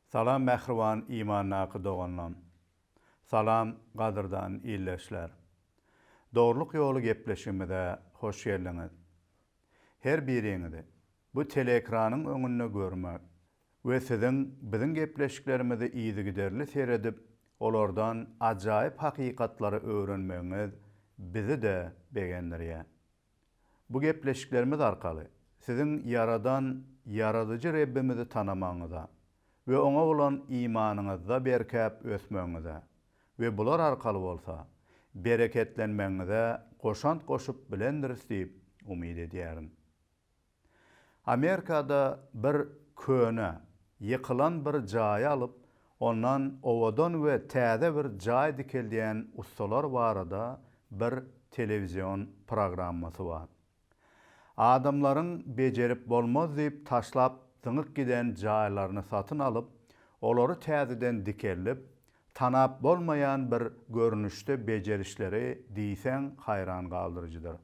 Salam mähriban imandaky doganlam. Salam gadyrdan ildeşler. Dogrulyk ýoly gepleşigimize hoş geldiňiz. Her biriňizi bu teleekranyň öňünde görmek we siziň biziň gepleşiklerimizi yzygiderli seredip, olardan ajaýyp hakykatlary öwrenmegiňiz bizi-de begendirýär. Bu gepleşiklerimiz arkaly siziň Ýaradan Ýaradyjy Rebbimizi tanamagyňyza we Oňa bolan imanyňyzda berkäp ösmegiňize we bular arkaly bolsa bereketlenmegiňize goşant goşup bilendiris diýip umyt edýärin. Amerikada bir köne, ýykylan bir jaýy alyp, ondan owadan we täze bir jaý dikeldýän ussalar barada bir telewizion programmasy bar. Adamlaryň bejerip bolmaz diýip taşlap zyňyk giden jaýlaryny satyn alyp, olary täzeden dikeldip, tanap bolmaýan bir görnüşde bejerişleri diýseň haýran galdyryjydyr.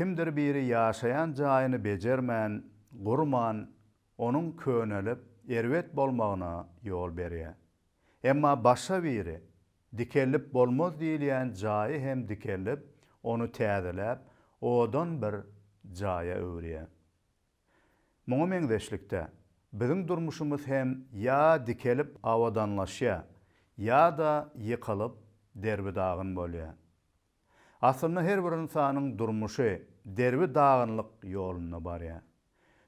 Kimdir biri ýaşaýan jaýyny bejermän, gurman, onuň könelip, erbet bolmagyna ýol berýär. Emma başga biri, dikeldip bolmaz diýilýän jaýy hem dikeldip, ony täzeläp, owadan bir jaýa öwürýär. Muňa meňzeşlikde, biziň durmuşymyz hem ýa dikelip abadanlaşýar, ýa-da ýykylyp, derbi-dagyn bolýar. Aslynda her bir ynsanyň durmuşy derbi dagynlyk ýolunda barýar.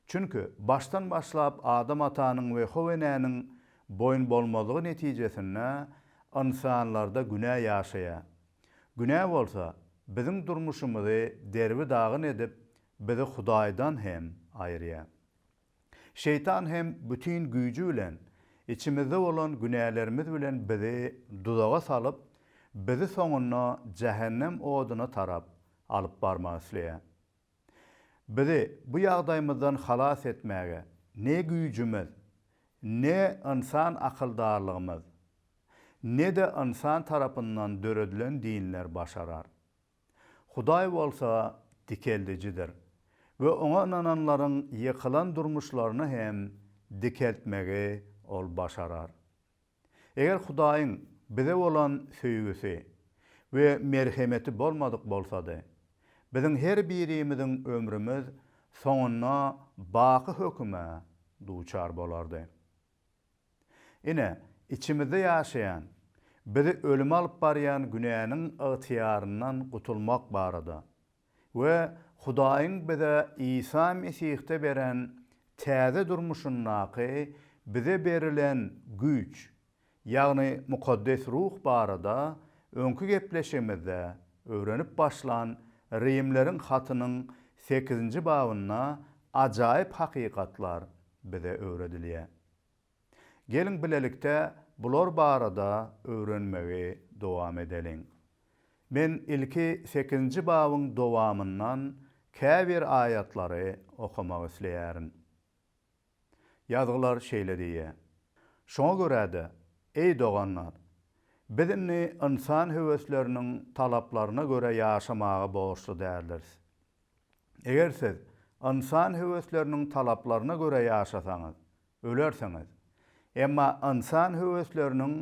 Çünki başdan başlap Adam atanyň we How enäniň boýun bolmazlygy netijesinde ynsanlarda günä ýaşaýar. Günä bolsa biziň durmuşymyzy derbi dagyn edip bizi Hudaýdan hem aýyrýar. Şeýtan hem bütin güýji bilen içimizde bolan günälerimiz bilen bizi duzaga salyp, bizi soňunda jähennem oduna tarap alyp barmak isleýär. Bizi bu ýagdaýymyzdan halas etmäge ne güýjümiz, ne ynsan akyldarlygymyz, ne-de ynsan tarapyndan döredilen dinler başarar. Hudaý bolsa dikeldijidir we Oňa ynananlaryň ýykylan durmuşlaryny hem dikeltmegi Ol başarar. Eger Hudaýyň bize bolan söýgüsi we merhemeti bolmadyk bolsady, biziň her birimiziň ömrümiz soňunda baky höküme duçar bolardy. Ine, içimizde ýaşaýan, bizi ölüme alyp barýan günäniň ygtyýaryndan gutulmak barada we Hudaýyň bize Isa Mesihde beren täze durmuşyndaky bize berilen güýç, ýagny Mukaddes Ruh barada öňki gepleşigimizde öwrenip başlan Rimleriň hatynyň sekizinji babynda ajaýyp hakykatlar bize öwredilýär. Geliň bilelikde bular barada öwrenmegi dowam edeliň. Men ilki sekizinji babyň dowamyndan käbir aýatlary okamak isleýärin. Ýazgylar şeýle diýýär, Şoňa görä-de, eý doganlar, biz indi ynsan höwesleriniň talaplaryna görä ýaşamaga borçly däldiris. Eger siz ynsan höwesleriniň talaplaryna görä ýaşasaňyz, ölersiňiz. Emma ynsan höwesleriniň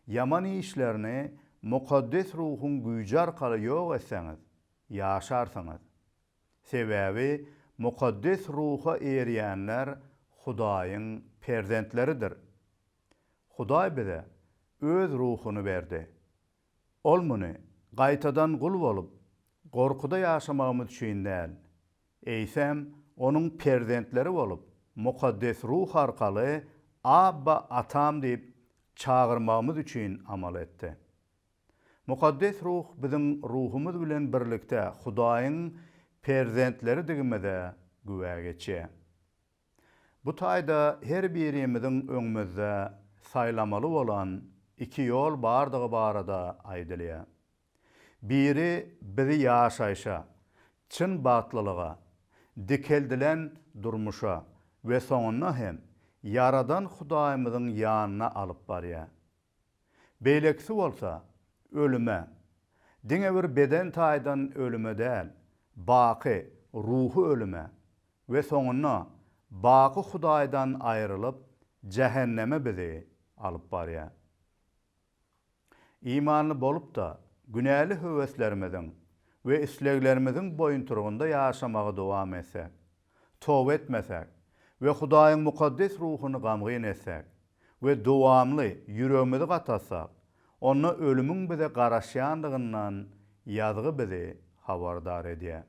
ýaman işlerini mukaddes ruhuň güýji arkaly ýok etseňiz, ýaşarsyňyz. Sebäbi mukaddes ruha eýerýänler Hudaýyň perzentleridir. Hudaý bize Öz Ruhuny berdi. Ol muny gaýtadan gul bolup, gorkuda ýaşamagymyz üçin däl, eýsem, Onuň perzentleri bolup, Mukaddes Ruh arkaly Abba, Atam diýip çagyrmagymyz üçin amal etdi. Mukaddes Ruh biziň ruhumyz bilen birlikde Hudaýyň perzentleridigimize güwä geçýär. Bu taýda her birimiziň öňümizde saýlamaly bolan iki ýol bardygy barada aýdylýar. Biri bizi ýaşaýşa, çyn bagtlylyga, dikeldilen durmuşa we soňunda hem Ýaradan Hudaýymyzyň ýanyna alyp barýar. Beýlekisi bolsa, ölüme, diňe bir beden taýdan ölüme däl, baky ruhy ölüme we soňunda baky Hudaýdan aýrylyp, jähenneme bizi alyp barýar. Imanly bolup-da, günäli höweslerimiziň we isleglerimiziň boýunturgynda ýaşamagy dowam etsek, toba etmesäk we Hudaýyň mukaddes ruhuny gamgyn etsäk we dowamly ýüregimizi gatatsak, onda ölümiň bize garaşýandygyndan ýazgy bizi habardar edýär.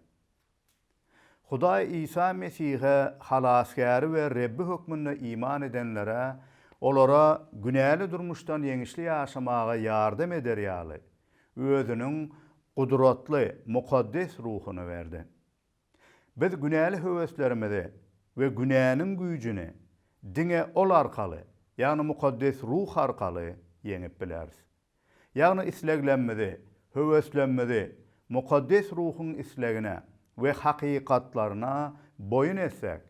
Hudaý Isa Mesihe Halasgäri we Rebbi hökmünde iman edenlere olara günäli durmuşdan ýeňişli ýaşamaga ýardam eder ýaly, Özüniň gudratly mukaddes ruhuny berdi. Biz günäli höweslerimizi we günäniň güýjüni diňe Ol arkaly, ýagny Mukaddes Ruh arkaly ýeňip bileris. Ýagny isleglemmizi, höweslemmzi Mukaddes Ruhuň islegine we hakykatlaryna boýun etsek,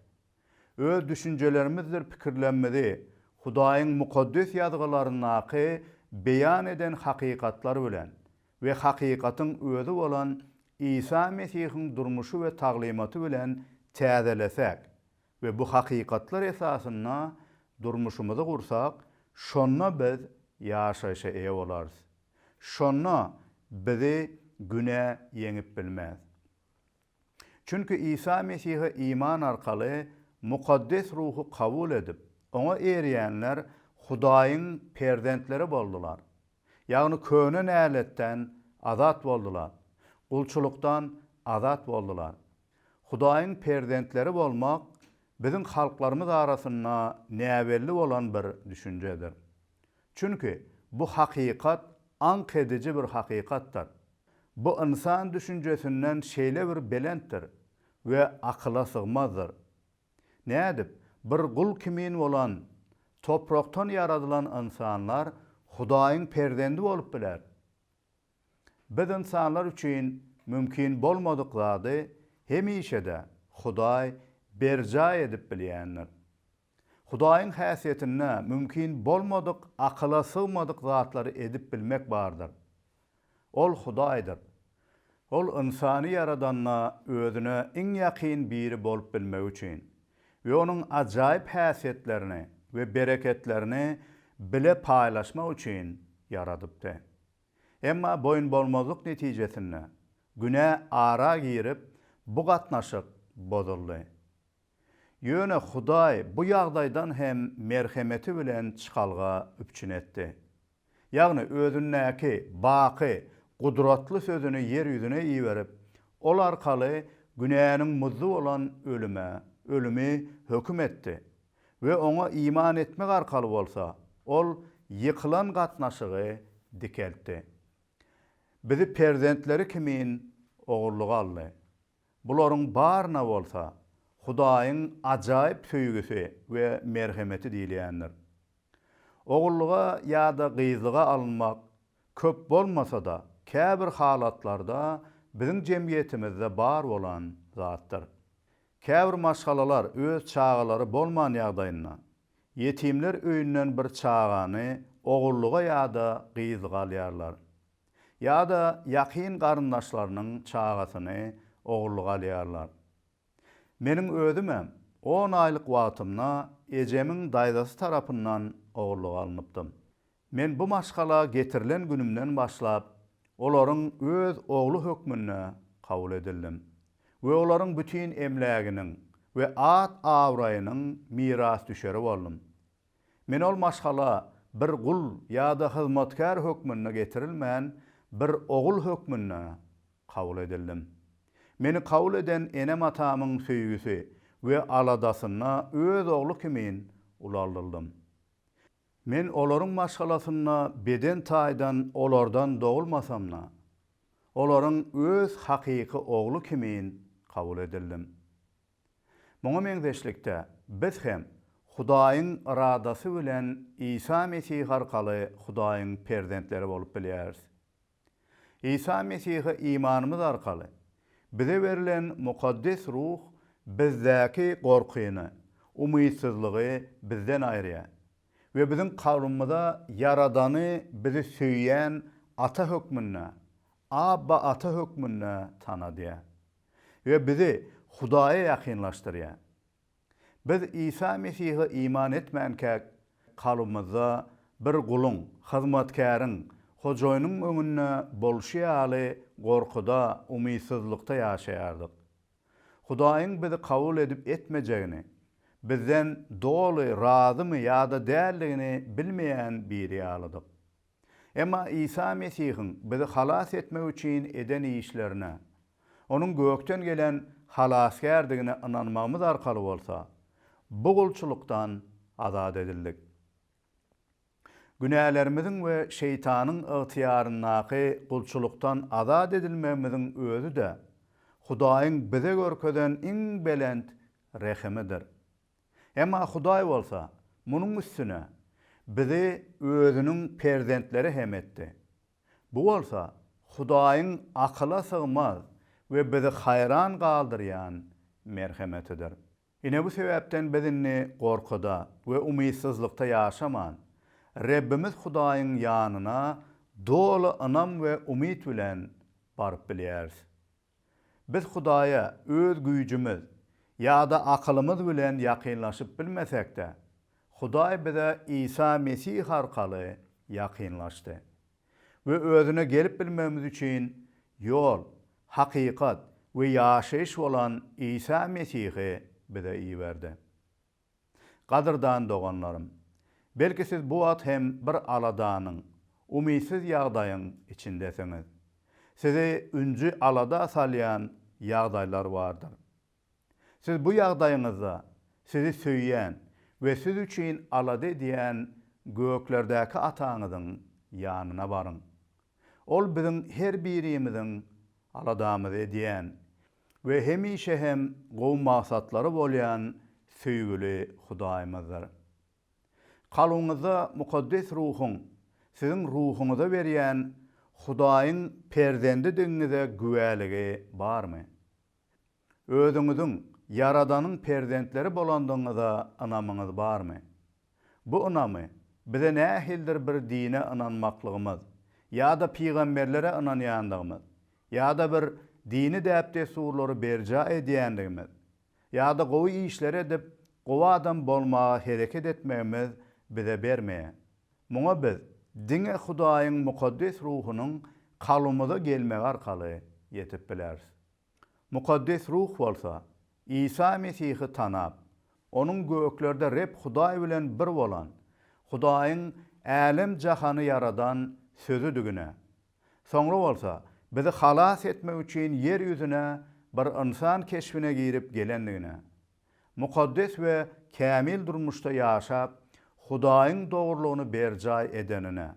öz düşünjelerimizdir pikirlemmizi Hudaýyň Mukaddes Ýazgylaryndaky beýan eden hakykatlar bilen we hakykatyň özi bolan Isa Mesihiň durmuşy we taglymaty bilen täzelesäk we bu hakykatlar esasynda durmuşymyzy gursak, şonda biz ýaşaýşa eýe bolarys. Şonda bizi günä ýeňip bilmez. Çünki Isa Mesihe iman arkaly Mukaddes Ruhy kabul edip, Oňa eýerýänler Hudaýyň perzentleri boldular. Ýagny köne näletden azat boldular, gulçulykdan azat boldular. Hudaýyň perzentleri bolmak biziň halklarymyz arasynda näbelli bolan bir düşünjedir. Çünki bu hakykat aňk ediji bir hakykatdyr. Bu ynsan düşünjesinden şeýle bir belentdir we akyla sygmazdyr. Nädip, bir gul kimin bolan, toprakdan ýaradylan ynsanlar Hudaýyň perzendi bolup biler? Biz ynsanlar üçin mümkin bolmadyk zady hemişe-de Hudaý berjaý edip bilýändir. Hudaýyň häsiýetinde mümkin bolmadyk, akyla sygmadyk zatlary edip bilmek bardyr. Ol Hudaýdyr. Ol ynsany ýaradanda özüne iň ýakyn biri bolup bilmegi üçin we onuň ajaýyp häsiýetlerini we bereketlerini bile paýlaşmak üçin ýaradypdy. Emma boýunbolmazlyk netijesinde günä ara girip, bu gatnaşyk bozuldy. Ýöne Hudaý bu ýagdaýdan hem merhemeti bilen çykalga üpjün etdi. Ýagny Özündäki baky gudratly Sözüni ýer ýüzüne iberip, Ol arkaly günäniň muzdy bolan ölüme, ölümi höküm etdi we Oňa iman etmek arkaly bolsa, Ol ýykylan gatnaşygy dikeltdi. Bizi perzentleri kimin ogurlyga aldy. Bularyň baryna bolsa Hudaýyň ajaýyp söýgüsi we merhemeti diýilýändir. Ogullyga ýa-da gyzlyga alynmak köp bolmasa-da, käbir halatlarda biziň jemgyýetimizde bar bolan zatdyr. Käbir maşgalalar öz çagalary bolman ýagdaýynda, ýetimler öýünden bir çagany ogullyga ýa-da gyzlyga alýarlar. ýa-da ýakyn garyndaşlarynyň çagasyny ogurlyga alýarlar. Meniň özümem on aýlyk wagtymda ejemiň daýzasy tarapyndan ogurlyga alnypdym. Men bu maşgala getirilen günümden başlap, olaryň öz ogly hökmünde kabul edildim we olaryň bütin emläginiň we at-abraýynyň mirasdüşeri boldum. Men ol maşgala bir gul ýa-da hyzmatkär hökmünde getirilmän, bir ogul hökmünde kabul edildim. Meni kabul eden enem-atamyň söýgüsi we aladasynda öz ogly kimin ulaldyldym. Men olaryň maşgalasynda beden taýdan olardan dogulmasam-da, olaryň öz hakyky ogly kimin kabul edildim. Muňa meňzeşlikde, biz hem Hudaýyň yradasy bilen Isa Mesih arkaly Hudaýyň perzentleri bolup bilýäris. Isa Mesihe imanymyz arkaly, bize berlen mukaddes ruh bizdäki gorkyny, umytsyzlygy bizden aýyrýar we biziň kalbymyza Ýaradany bizi söýýän Ata hökmünde, Abba, Ata hökmünde tanadýar. we bizi Hudaýa ýakynlaşdyrýar. Biz Isa Mesihe iman etmänkäk, kalbymyzda bir guluň, hyzmatkäriň, hojaýynyň öňünde bolşy ýaly gorkuda, umytsyzlykda ýaşaýardyk. Hudaýyň bizi kabul edip etmejegini, bizden doly razymy ýa-da däldigini bilmeýän biri ýalydyk. Emma Isa Mesihiň bizi halas etmek üçin eden işlerine, Onuň gökden gelen Halasgärdigine ynanmagymyz arkaly bolsa, bu gulçulykdan azat edildik. Günälerimiziň we Şeýtanyň ygtyýaryndaky gulçulykdan azat edilmegimiziň özi-de Hudaýyň bize görkezen iň belent rehimidir. Emma Hudaý bolsa munuň üstüne bizi Özüniň perzentleri hem etdi. Bu bolsa Hudaýyň akyla sygmaz we bizi haýran galdyrýan merhemetidir. Ine bu sebäpden biz indi gorkyda we umytsyzlykda ýaşaman, Rebbimiz Hudaýyň ýanyna doly ynam we umyt bilen baryp bilýäris. Biz Hudaýa öz güýjümiz ýa-da akylymyz bilen ýakynlaşyp bilmesek-de, Hudaý bize Isa Mesih arkaly ýakynlaşdy we özüne gelip bilmegimiz üçin ýol, hakykat we ýaşaýyş bolan Isa Mesihi bize iberdi. Gadyrdan doganlarym! Belki siz bu wagt hem bir aladanyň, umytsyz ýagdaýyň içindesiňiz. Sizi ünji alada salýan ýagdaýlar bardyr. Siz bu ýagdaýyňyzda sizi söýýän we siz üçin alada edýän göklerdäki Ataňyzyň ýanyna baryň. Ol biziň her birimiziň aladamyzy edýän we hemişe hem gowy maksatlary bolýan söýgüli Hudaýymyzdyr. Kalbyňyzda Mukaddes Ruhuň siziň ruhuňyza berýän Hudaýyň perzendidigiňize güwäligi barmy? Özüňiziň Ýaradanyň perzentleri bolandygyňyza ynamyňyz barmy? Bu ynamy bize nähilidir bir dine ynanmaklygymyz ýa-da pygamberlere ynanýandygymyz ýa-da bir dini däp-dessurlary berjaý edýändigimiz ýa-da gowy işleri edip, gowy adam bolmaga hereket etmegimiz bize bermeýär. Muňa biz diňe Hudaýyň mukaddes ruhunyň kalbymyza gelmegi arkaly ýetip bileris. Mukaddes Ruh bolsa Isa Mesihi tanap, Onuň göklerde Reb Hudaý bilen bir bolan, Hudaýyň älem-jahany ýaradan Sözüdigine, soňra bolsa bizi halas etmek üçin ýer ýüzüne bir ynsan keşbine girip gelendigine, mukaddes we kämil durmuşda ýaşap, Hudaýyň dogrulygyny berjaý edenine.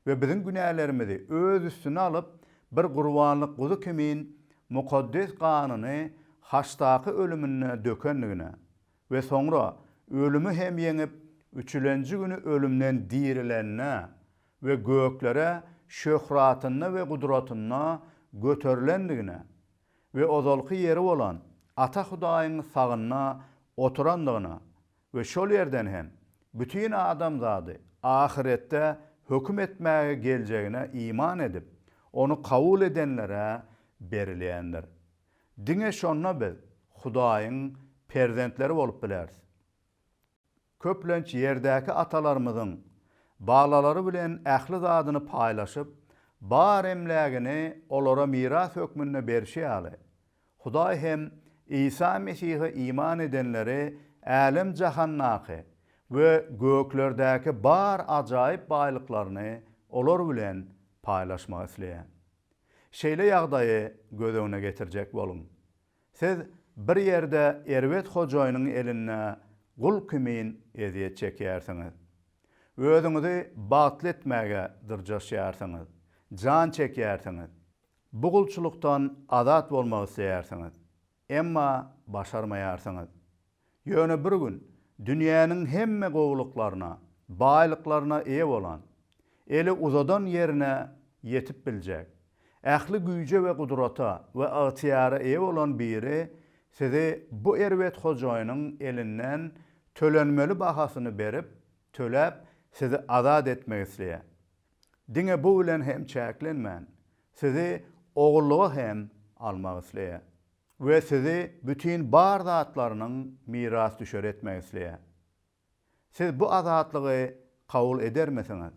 we biziň günälerimizi Öz üstüne alyp, bir gurbanlyk guzy kimin mukaddes ganyny haçdaky ölüminde dökendigine we soňra ölümi hem ýeňip, üçülenji güni ölümden dirilenine we göklere şöhratynda we gudratynda göterilendigine we ozalky ýeri bolan Ata Hudaýyň sagynda oturandygyna we şol ýerden hem bütin adamzady ahyretde höküm etmäge geljegine iman edip, ony kabul edenlere berilýändir. Diňe şonda biz Hudaýyň perzentleri bolup bileris. Köplenç ýerdäki atalarymyzyň balalary bilen ähli zadyny paýlaşyp, bar emlägini olara miras hökmünde berşi ýaly, Hudaý hem Isa Mesihe iman edenleri älem-jahandaky we göklerdäki bar ajaýyp baýlyklaryny olar bilen paýlaşmak isleýär. Şeýle ýagdaýy göz öňüne getirjek boluň. Siz bir ýerde erbet hojaýynyň elinde gul kimin ezýet çekýärsiňiz. Özüňizi bagtly etmäge dyrjaşýarsyňyz, jan çekýärsiňiz. Bu gulçulykdan azat bolmak isleýärsiňiz, emma başarmaýarsyňyz. Ýöne bir gün dünýäniň hemme gowulyklaryna, baýlyklaryna eýe bolan, eli uzadan ýerine ýetip biljek, ähli güýje we gudrata we ygtyýara eýe bolan biri sizi bu erbet hojaýynyň elinden tölenmeli bahasyny berip, töläp, sizi azat etmek isleýär. Diňe bu bilen hem çäklenmän, sizi ogullyga hem almak isleýär we sizi bütin bar zatlarynyň mirasdüşeri etmek isleýär. Siz bu azatlygy kabul edermisiňiz?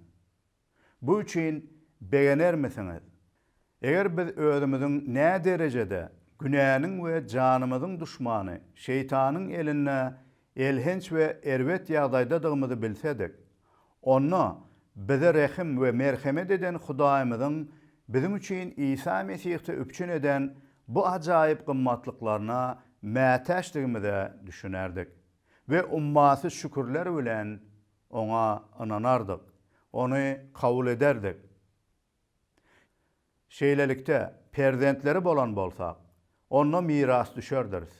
Bu üçin begenermisiňiz Eger biz özümiziň näderejede günäniň we janymyzyň duşmany Şeýtanyň elinde elhenç we erbet ýagdaýdadygymyzy bilsedik, onda bize rehim we merhemet eden Hudaýymyzyň biziň üçin Isa Mesihde üpjün eden bu ajaýyp gymmatlyklaryna mätäçdigimize düşünerdik we ummasyz şükürler bilen Oňa ynanardyk, Ony kabul ederdik. Şeýlelikde, perzentleri bolan bolsak, onda mirasdüşerdiris.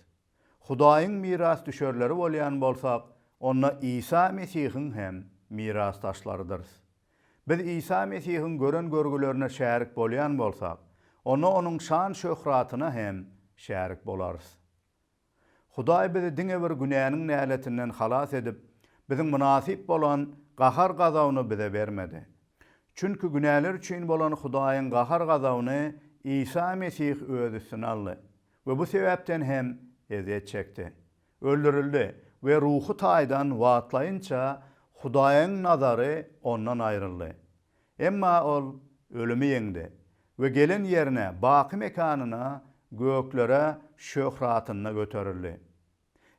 Hudaýyň mirasdüşerleri bolýan bolsak, onda Isa Mesihiň hem mirasdaşlarydyrys. Biz Isa Mesihiň gören görgülerine şärik bolýan bolsak, onda onuň şan-şöhratyna hem şärik bolarys. Hudaý bizi diňe bir günäniň näletinden halas edip, biziň mynasyp bolan gahar-gazabyny bize bermedi. Çünki günäler üçin bolan Hudaýyň gahar-gazabyny Isa Mesih öz üstüne aldy we bu sebäpden hem ezýet çekdi, öldürildi we ruhy taýdan wagtlaýynça Hudaýyň nazary ondan aýryldy. Emma ol ölümi ýeňdi we gelen ýerine, baky mekanyna, göklere şöhratynda göterildi.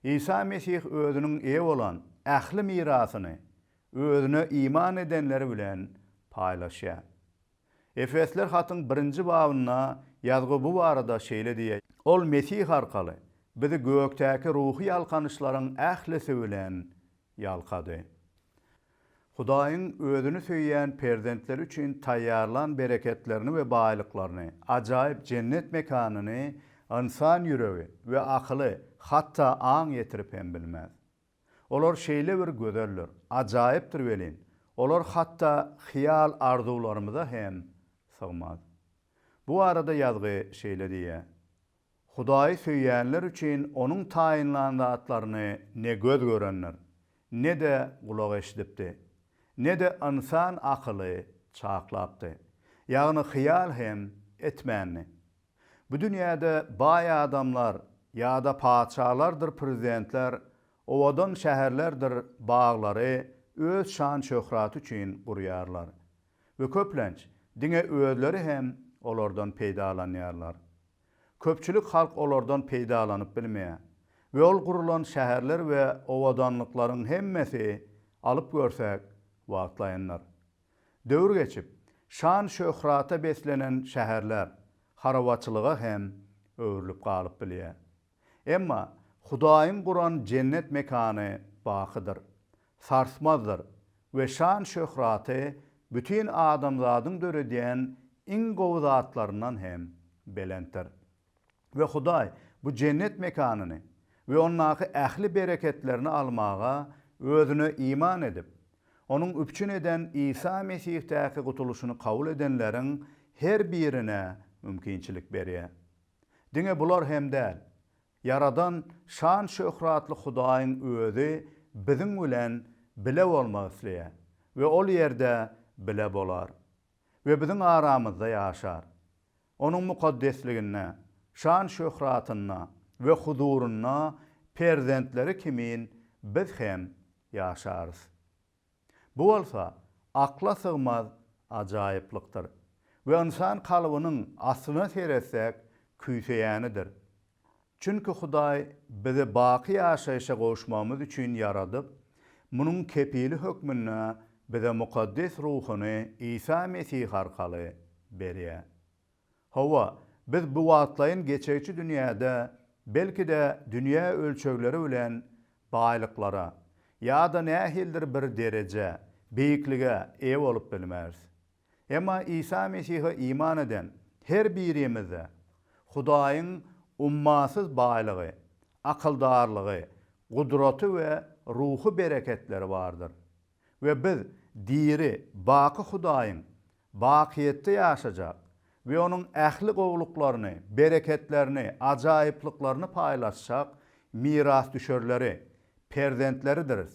Isa Mesih özüniň eýe bolan ähli mirasyny özüne iman edenleri bilen paýlaşýar. Efesler hatyň birinji babynda ýazgy bu barada şeýle diýýär, Ol Mesih arkaly bizi gökdäki ruhy ýalkanyşlaryň ählisi bilen ýalkady. Hudaýyň Özüni söýýän perzentleri üçin taýýarlan bereketlerini we baýlyklaryny, ajaýyp jennet mekanyny ynsan ýüregi we akyly hatda aň ýetirip hem bilmez. Olar şeýle bir gözeldir, ajaýypdyr welin, olar hatda hyýal-arzuwlarymyza hem sygmaz. Bu barada ýazgy şeýle diýýär, Hudaýy söýýänler üçin Onuň taýynlan zatlaryny ne göz görendir, ne-de gulak eşidipdi, ne-de ynsan akyly çaklapdy, ýagny hyýal hem etmändi. Bu dünýäde baý adamlar ýa-da patyşalardyr prezidentler owadan şäherlerdir baglary öz şan-şöhraty üçin gurýarlar. we köplenç diňe özleri hem olardan peýdalanýarlar. Köpçülik halk olardan peýdalanyp bilmeýär we ol gurulan şäherler we owadanlyklaryň hemmesi, alyp görsek, wagtlaýyndyr. Döwür geçip, şan-şöhrata beslenen şäherler harabaçylyga hem öwrülip galyp bilýär. Emma Hudaýyň guran jennet mekany bakydyr, sarsmazdyr we şan-şöhraty bütin adamzadyň döredýän iň gowy zatlaryndan hem belentdir. We Hudaý bu jennet mekanyny we ondaky ähli bereketlerini almaga Özüne iman edip, Onuň üpjün eden Isa Mesihdaky gutulyşyny kabul edenleriň her birine mümkinçilik berýär. Diňe bular hem däl, Ýaradan şan-şöhratly Hudaýyň Özi biziň bilen bile bolmak isleýär we ol ýerde bile bolar we biziň aramyzda ýaşar. Onuň mukaddesliginde, şan-şöhratynda we huzurynda perzentleri kimin biz hem ýaşarys. Bu bolsa akla sygmaz ajaýyplykdyr we ynsan kalbynyň aslyna seretsek küýseýänidir. Çünki Hudaý bizi baky ýaşaýşa gowuşmagymyz üçin ýaradyp, munuň kepili hökmünde bize mukaddes ruhuny Isa Mesih arkaly berýär. Hawa, biz bu wagtlaýyn geçegçi dünýäde belki-de dünýä ölçegleri bilen baýlyklara ýa-da nähilidir bir derejä, beýiklige eýe bolup bilmeris. Emma Isa Mesihe iman eden her birimizde Hudaýyň ummasyz baýlygy, akyldarlygy, gudraty we ruhy bereketleri bardyr. we biz diri, baky Hudaýyň bakyýetde ýaşajak we Onuň ähli gowulyklaryny, bereketlerini, ajaýyplyklaryny paýlaşjak mirasdüşerleri, perzentleridiris.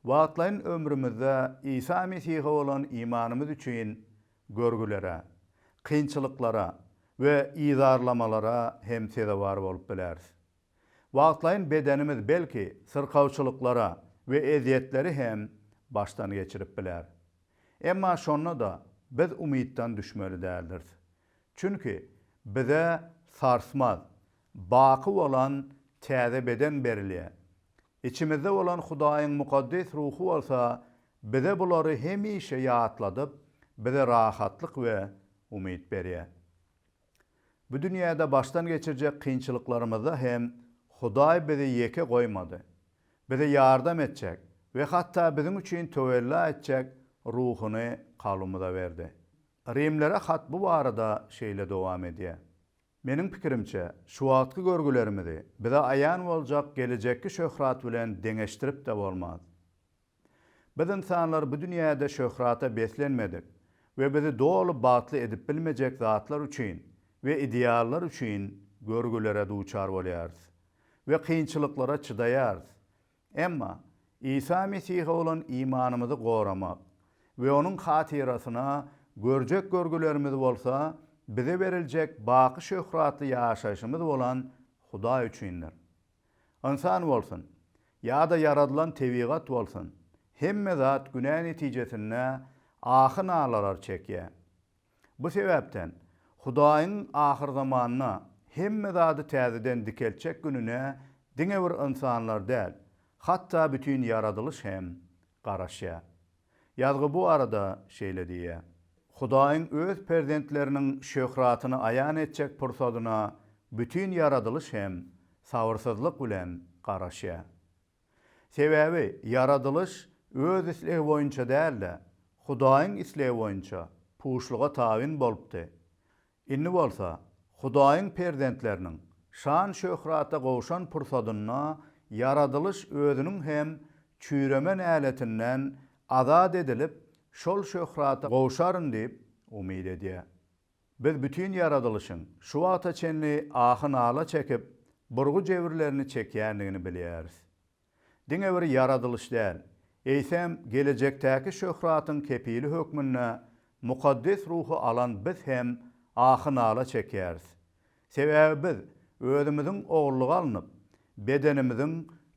Wagtlaýyn ömrümizde Isa Mesihe bolan imanymyz üçin görgülere, kynçylyklara we yzarlamalara hem sezewar bolup bileris. Wagtlaýyn bedenimiz belki syrkawçylyklara we ezýetleri hem başdan geçirip biler. Emma şonda-da biz umytdan düşmeli däldiris. Çünki bize sarsmaz, baky bolan täze beden berilýär. Içimizde bolan Hudaýyň mukaddes ruhy bolsa bize bulary hemişe ýatladyp, bize rahatlyk we umyt berýär. Bu dünýäde başdan geçirjek kynçylyklarymyzda hem Hudaý bizi ýeke goýmady. Bize ýardam etjek we hatda biziň üçin töwella etjek Ruhuny kalbymyza berdi. Rimlere hat bu barada şeýle dowam edýär, Meniň pikirimçe, şu wagtky görgülerimizi bize aýan boljak gelejekki şöhrat bilen deňeşdirip-de bolmaz. Biz ynsanlar bu dünýäde şöhrata beslenmedik we bizi doly bagtly edip bilmejek zatlar üçin we ideallar üçin görgülere duçar bolýarys we kynçylyklara çydaýarys. Emma Isa Mesihe bolan imanymyzy goramak we onuň hatyrasyna görjek görgülerimiz bolsa bize beriljek baky şöhratly ýaşaýşymyz bolan Hudaý üçindir. Ynsan bolsun, ýa-da ýaradylan tebigat bolsun, hemme zat günä netijesinde ahy-nalalar çekýär. Bu sebäpden, Hudaýyň ahyrzamanda hemme zady täzeden dikeltjek gününe diňe bir ynsanlar däl, hatda bütin ýaradylyş hem Garaşýar. Ýazgy bu barada şeýle diýýär. Hudaýyň öz perzentleriniň şöhratyny aýan etjek pursadyna bütin ýaradylyş hem sabyrsyzlyk bilen garaşýar. Sebäbi ýaradylyş öz islegi boýunça däl-de, Hudaýyň islegi boýunça puşluga tabyn bolupdy. Indi bolsa Hudaýyň perzentleriniň şan-şöhrata gowşan pursadynda ýaradylyş özüniň hem çüýreme näletinden azat edilip, şol şöhrata gowşaryn diýip umyt edýär. Biz bütin ýaradylyşyň şu wagta çenli ahy-nala çekip, burgy-jebirlerini çekýändigini bilýäris. diňe bir ýaradylyş däl, eýsem, gelejekdäki şöhratyň kepili hökmünde mukaddes ruhy alan biz hem ahy-nala çekýäris. Sebäbi biz özümiziň ogullyga alnyp, bedenimiziň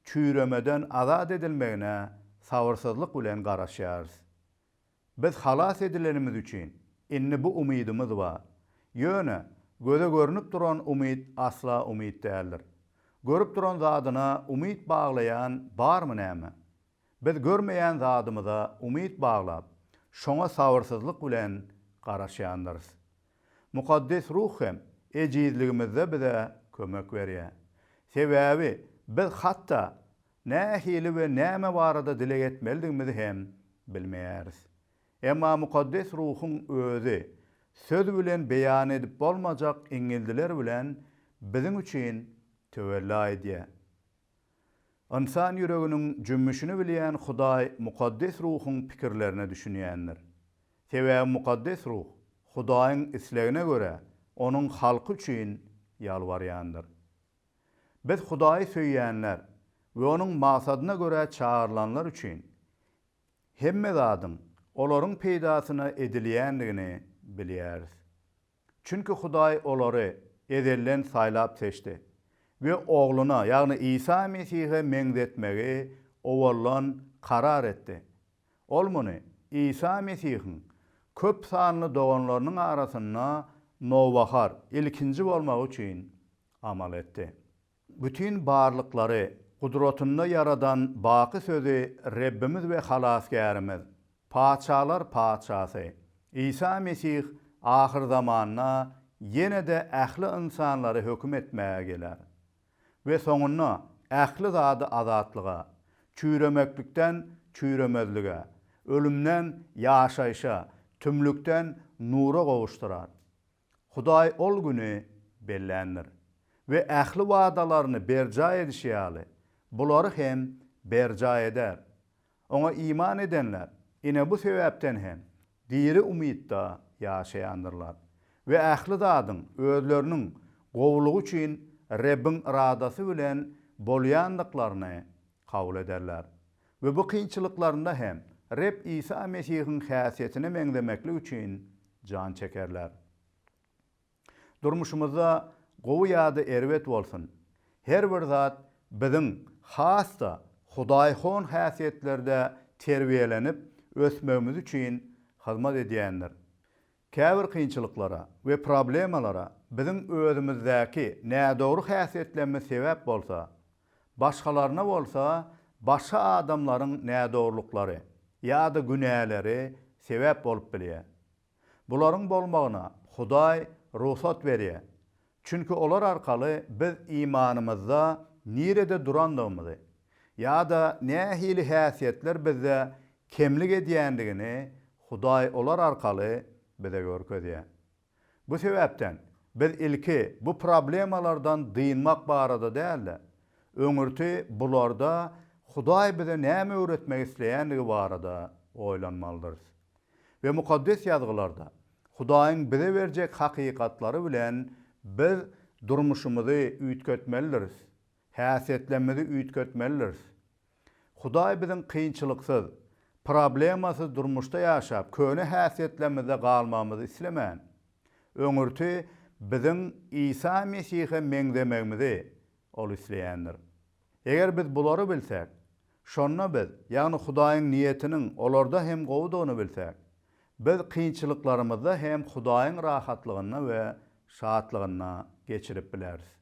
çüýremeden azat edilmegine sabyrsyzlyk bilen garaşýarys. Biz halas edilenimiz üçin, indi bu umydymyz bar. Ýöne, göze görnüp duran umyt asla umyt däldir. Görüp duran zadyna umyt baglaýan barmy näme? Biz görmeýän zadymyza umyt baglap, şoňa sabyrsyzlyk bilen garaşýandyrys. Mukaddes Ruh hem ejizligimizde bize kömek berýär. Sebäbi biz hatda nähili we näme barada dileg etmelidigimizi hem bilmeýäris. Emma Mukaddes Ruhuň Özi söz bilen beýan edip bolmajak iňňildiler bilen biziň üçin töwella edýär. Ynsan ýüreginiň jümmüşini bilýän Hudaý Mukaddes Ruhuň pikirlerine düşünýändir. Sebäbi Mukaddes Ruh Hudaýyň islegine görä Onuň halky üçin ýalbarýandyr. Biz Hudaýy söýýänler we Onuň maksadyna görä çagyrylanlar üçin hemme zadyň olaryň peýdasyna edilýändigini bilýäris. Çünki Hudaý olary ezelden saýlap-seçdi we Ogluna, ýagny Isa Mesihe meňzetmegi owaldan karar etdi. Ol muny Isa Mesihiň köp sanly doganlarynyň arasynda nowbahar, ilkinji bolmagy üçin amal etdi. Bütin barlyklary gudratynda ýaradan baky sözi Rebbimiz we Halasgärimiz, Patyşalar Patyşasy, Isa Mesih ahyrzamanda ýene-de ähli ynsanlary höküm etmäge geler. We soňunda ähli zady azatlyga, çüýremeklikden çüýremezlige, ölümden ýaşaýşa, tümlükden nura gowuşdyrar. Hudaý ol güni belländir. We ähli wadalaryny berjaý edişi ýaly, bulary hem berjaý eder. Oňa iman edenler, ine bu sebäpden hem, diri umytda ýaşaýandyrlar we ähli zadyň özleriniň gowulygy üçin Rebbiň yradasy bilen bolýandyklaryny kabul ederler we bu kynçylyklarynda hem Reb Isa Mesihiň häsiýetine meňzemeklik üçin jan çekerler. Durmuşymyzda gowy ýa-da erbet bolsun, her bir zat biziň has-da hudaýhon häsiýetlerde terbiýelenip ösmegimiz üçin hyzmat edýändir. Käbir kynçylyklara we problemalara biziň özümizdäki nädogry häsiýetlerimiz sebäp bolsa, başgalaryna bolsa başga adamlaryň nädogrulyklary ýa-da günäleri sebäp bolup bilýär. Bularyň bolmagyna Hudaý rugsat berýär. Çünki olar arkaly biz imanymyzda nirede durandygymyzy ýa-da nähili häsiýetler bizde kemlik edýändigini Hudaý olar arkaly bize görkezýär. Bu sebäpden biz ilki bu problemalardan dynmak barada däl-de, öňürti bularda Hudaý bize näme öwretmek isleýändigi barada oýlanmalydyrys. we Mukaddes Ýazgylarda Hudaýyň bize berjek hakykatlary bilen biz durmuşymyzy üýtgetmelidiris, häsiýetlemmizi üýtgetmelidiris. Hudaý biziň kynçylyksyz, problemasyz durmuşda ýaşap, köne häsiýetlerimizde galmagymyzy islemän, öňürti biziň Isa Mesihe meňzemegimizi Ol isleýändir. Eger biz bulary bilsek, şonda biz, ýagny Hudaýyň niýetiniň olarda hem gowudygyny bilsek, biz kynçylyklarymyzda hem Hudaýyň rahatlygynda we şatlygynda geçirip bileris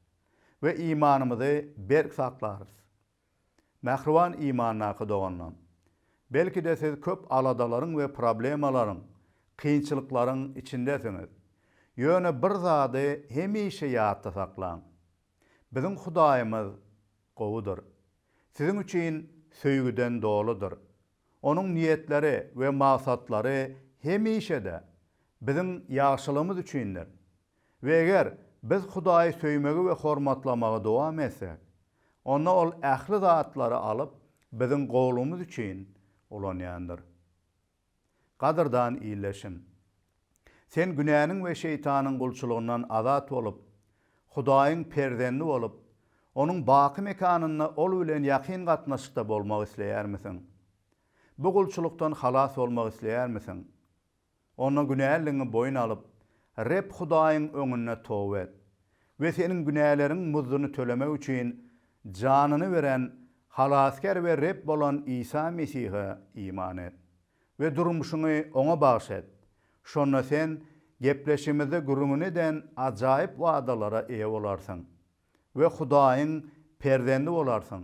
we imanymyzy berk saklarys. Mähriban imandaky doganlar! Belki-de siz köp aladalaryň we problemalaryň, kynçylyklaryň içindesiňiz. Ýöne bir zady hemişe ýatda saklaň. Biziň Hudaýymyz gowudyr. Siziň üçin söýgüden doludyr. Onuň niýetleri we maksatlary hemişe-de biziň ýagşylygymyz üçindir. We eger biz Hudaýy söýmegi we hormatlamagy dowam etsek, onda Ol ähli zatlary alyp, biziň gowulygymyz üçin ulanýandyr. Gadyrdan ildeşim! Sen günäniň we şeýtanyň gulçulygyndan azat bolup, Hudaýyň perzendi bolup, Onuň baky mekanynda Ol bilen ýakyn gatnaşykda bolmak isleýärmisiň? Bu gulçulykdan halas bolmak isleýärmisiň? Onda günäliligiňi boýun alyp, Reb Hudaýyň öňünde toba et. we seniň günäleriň muzduny tölemek üçin janyny beren Halasgär we Reb bolan Isa Mesihe iman et we durmuşyňy Oňa bagyş et. Şonda sen gepleşigimizde gürrüňini eden ajaýyp wadalara eýe bolarsyň we Hudaýyň perzendi bolarsyň.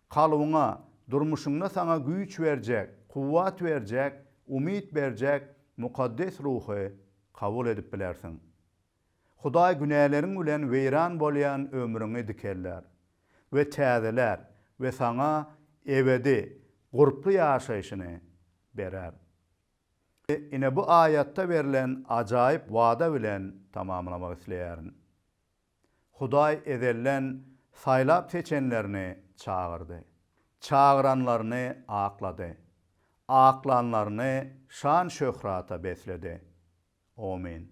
Kalbyňa, durmuşyňda saňa güýç berjek, kuwwat berjek, umyt berjek Mukaddes Ruhy kabul edip bilersiň. Hudaý günäleriň bilen weýran bolýan ömrüňi dikeldär we täzelär we saňa ebedi gurply ýaşaýşyny berer. Ine bu aýatda berlen ajaýyp wada bilen tamamlamak isleýärin. Hudaý ezelden saýlap seçenlerini çagyrdy. Çagyranlaryny aklady. Aklanlaryny şan-şöhrata besledi. Amen.